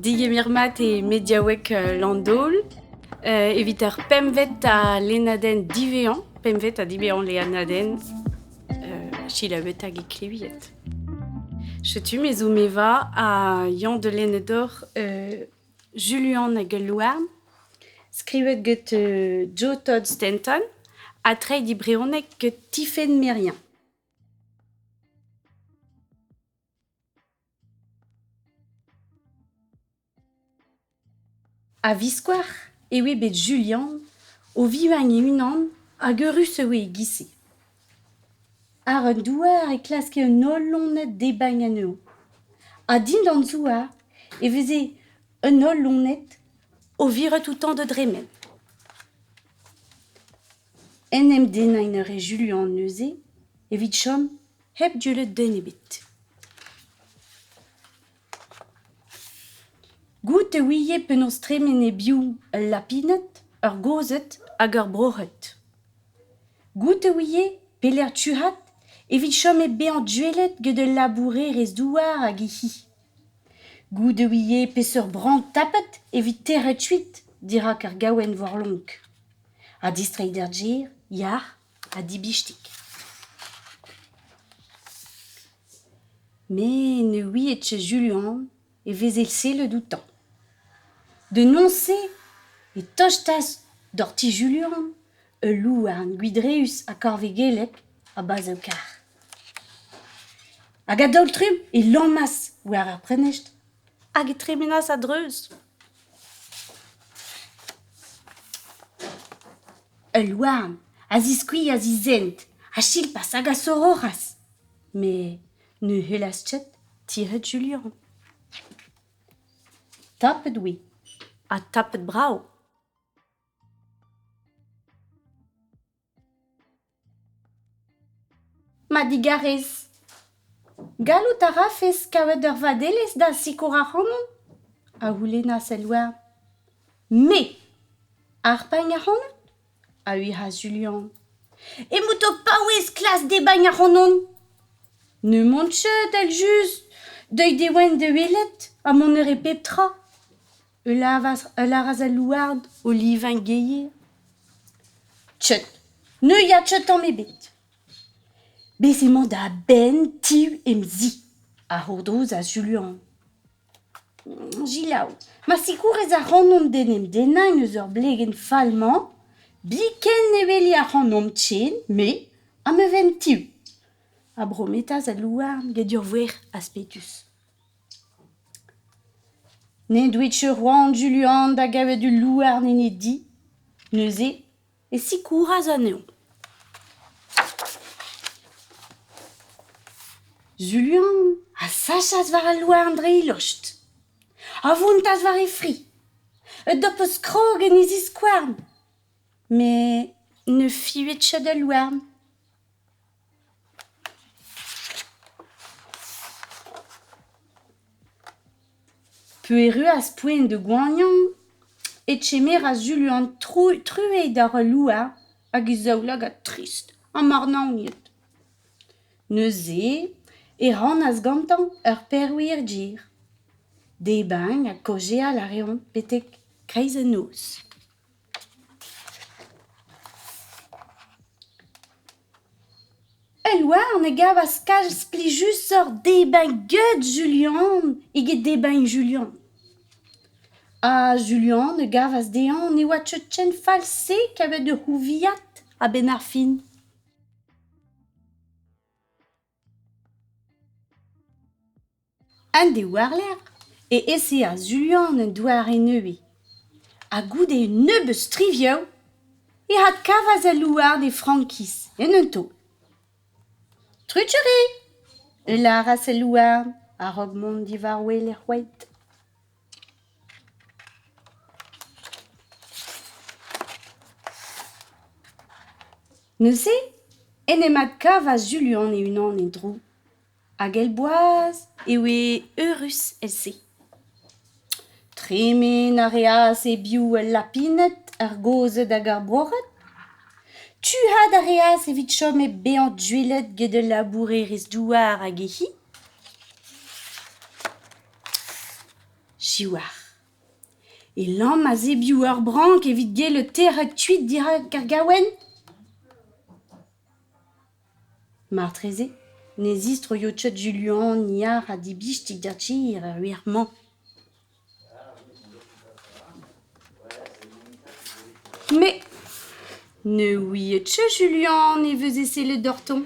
Digemer-mat eo mediaoueg Landaol evit ar pempvet ha lennadenn diwezhañ, pempvet ha diwezhañ lennadenn selaouet hag ekleviet. Setu me zo Meva ha Yann de Lenedor Juluan hag al Louarn, skrivet get Jo Todd Stanton ha treiñ e brezhoneg get Tifenn Merian. A-viskoazh e oe bet Julian o vivañ e-unan hag eürus e oe e-giz-se. Àr un douar e klaske un holl loned debriñ anezho. Ha dindan zouar e veze un holl loned o viret outañ da dremen. En em dennañ en a rae Julian neuze evit chom. hep dullet den ebet. Goût e ouie penaos tremen e-biou ul lapined, ur gozhed hag ur broc'hed. Goût e ouie pelec'h tuc'hat evit chom hep bezañ duellet gant ul labourerez-douar hag he c'hi. Goût e ouie peseurt brañ tapet evit teret kuit dirak ar gaouenn warlonk. Ha distreiñ d'ar gêr, yac'h ha dibistig. Met ne ouiet ket Julian e veze sellet outañ. Denoñs-se e tostas doc'h ti Julian ul louarn gwidreüs ha korvegellek a bazv kar. Hag a-daol-trumm e lammas war ar prenestr hag e tremenas a-dreuz. Ul louarn a ziskuilhas he zent ha silpas hag a soroc'has. Met ne c'hellas ket tired Julian. Tapet oe ha tapet brav. Ma digarez, gallout a rafes kaout ur vadelez da sikour ac'hanon? a c'houlennas el loen. Me? Harpagn ac'hanot? a uc'has Julian. Emout ho paouez klas debagn ac'hanon. N'emaon ket evel-just deuet e oan da welet ha mont a rit pep tra. Ul lavaras al louarn o livañ gaer. Tchut, neuiañ tchut tamm ebet. Bez' emañ da benn ti em zi, a c'hourdrozas Julian. Selaou, ma sikourez ac'hanon d'en em dennañ eus ur blegenn fall-mañ, biken ne weli ac'hanomp ken, me ha ma vamm-tu, a brometas al louarn gant ur voerc'h aspedus. N'en doit ket c'hoant Julian da gavet ul louarn en e di, neuze e sikouras anezhañ. Julian a sachas war al louarn dre e lostr, a vountas war e fri, un dopez krog en e ziskouarn, met ne fivet ket al louarn. P'erruas poent da goaniañ e kemeras Julian truez d'ar louer hag e zaoulagad trist ha marnaoniet. Neuze e rannas gantañ ur perwir dir. Debriñ ha kaozeal a reont betek kreiz an noz. Ul louarn a gavas kalz plijusoc'h debriñ get Julian eget debriñ Julian. Ha Julian a gavas dezhañ ne oa cheñchenn fall-se kavet da c'houviaat a-benn ar fin. An de war-lerc'h e eseas Julian un doare nevez, ha goude un nebeud strivioù e adkavas al louarn e frankiz en un taol. Truc'huri! e lâras al louarn a-raok mont diwar-wel er c'hoed. Neuze en em adkavas Juluan e-unan e-dro, hag èl boaz e oe eürus èl-se. Tremen a reas e-biou ul lapined, ar gozhed hag ar bourc'hed. Tuc'had a reas evit chom hep bezañ duellet get ul labourerez-douar hag e c'hi. Siwazh. E lamm a-zebioù ur brank evit gellet tec'het kuit dirak ar gaouenn ? Martreze ne zistroio Tchod Julian yar ha dibistig d'ar tir er wir-mañ. Me ne ouie Tchod Julian e veze sellet oc'htoñ.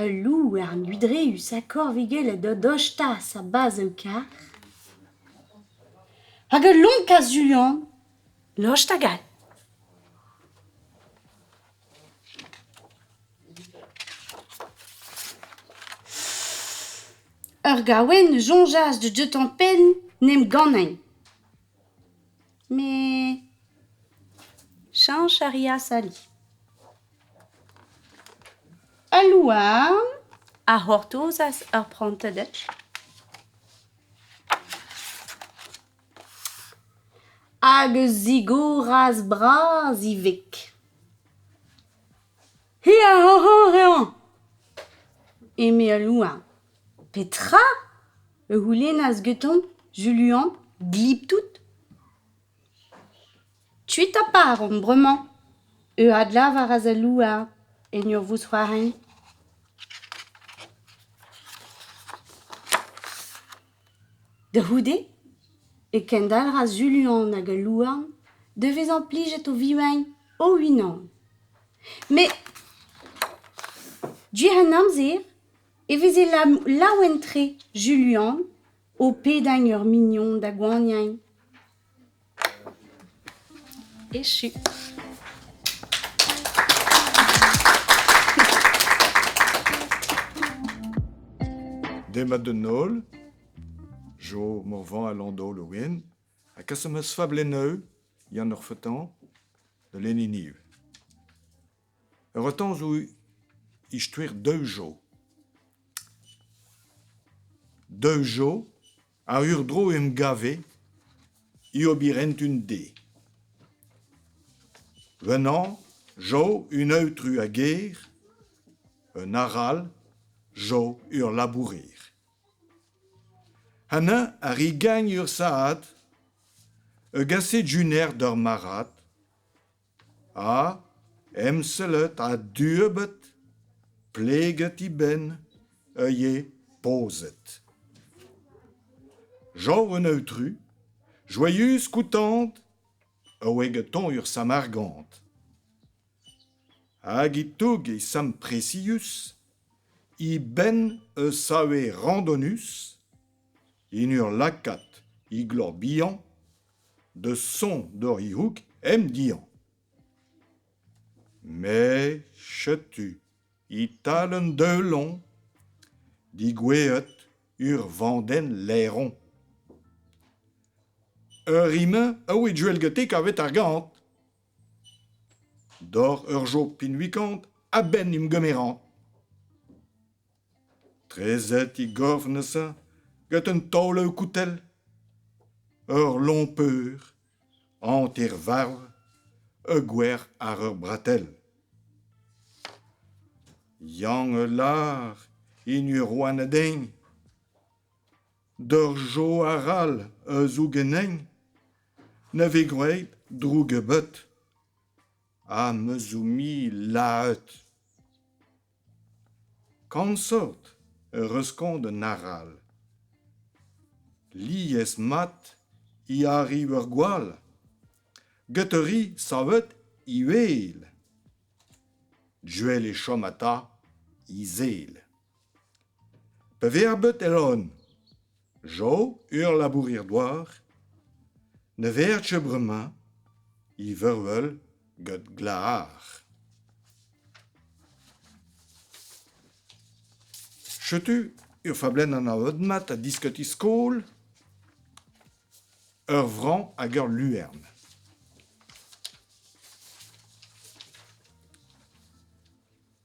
Ul louer ludreüs ha korvigellet o dostaas a-bazh-ho-kar. Hag ul lonk a-zuañ lost hag all. Ur gaouenn a soñjas da deuañ penn 'n em gannay. Met chañch a reas ali. Al louarn a c'hortozas ur prantadell. Hag a zigoras bras ivez. Hi a c'horc'horeañ! eme al louarn. Petra? e c'houlennas gantañ Juluan glip-tout. Kuit a paromp bremañ, eu adlavaras al louarn en ur vousc'hoarzhin. Da c'houde e kendalc'has Juluan hag al louarn da vezañ plijet o vivañ o-unan. Met, diouzh an amzer, e veze laouen-tre Julian o pedañ ur mignon da goaniañ. Echu. Demat d'an holl. Jo Morvan a Landol o wen ha kaset ma fablenn eu. Yann Orfetan da Leniniv. Ur retorn zo istoer Deujo. Deujo a urdro em gav eo e obirent un de. Renan zo un aotru a gêr, un arall zo ur labourer. Hemañ a ri gagn ur saad, ur gased junior d'ur marc'had, ha emsellet a-dueubet pleget he benn ivez pozet Jav an aotru, joaius koutant, a oe gantañ ur samargant. Hag e touge Sam Presius he benn eus save randonus en ur lakaat he gloc'h bihan da son doc'h he c'houg em dihañv. Me, setu e-tal un deulon digouezhet ur vandenn laeron. Ur re-mañ a oa duellgatik kavet ar gant. Doc'h ur job pinvikant a-benn em gemeran. Treset he gorf neuze gant un taol koutell. Ur lompeur, hanter-varv, ur gwer àr ur bratell. Yann a lar hini ur rouanadein. D'ur jo arall a zoug enein, na vez gwraet droug ebet. Ha me zo-mi lahet. Kansort eur reuz-kont d'an arall. Lies-mat e arriv ur gwall, get ur re savet uhel. Joell e chom ata he zel. Pa vezer bet el on. Jo, ur labourer-douar, ne verje bremañ he vervel gant glac'har. Setu ur fablenn anavet-mat a diskoti skol ur vrañ hag ur luern.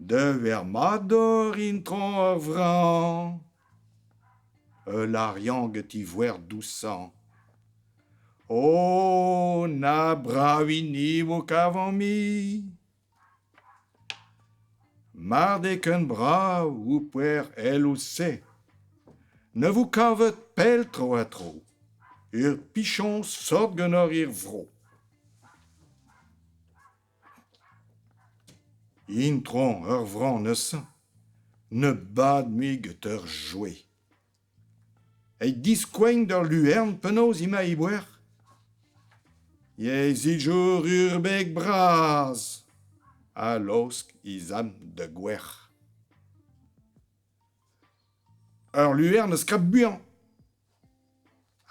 Dever mat oc'h intron ar vran Ul arian get he voer dousañ O na bravini vo kavañ-mi Mar d eo ken brav ho poer èl ouzh-se Ne vo kavet pell tro-ha-tro Ur pichoñs sort ganeoc'h er vro. Intron ur vran neuze ne bad mui get ur joe. Eit diskoueñ d'ur luern penaos emañ Iwer? Yezhijour urbek bras ha laosk he zamm da gwer. Ur luern a skrap buan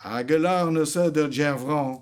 hag a lar neuze d'ur gêr vran.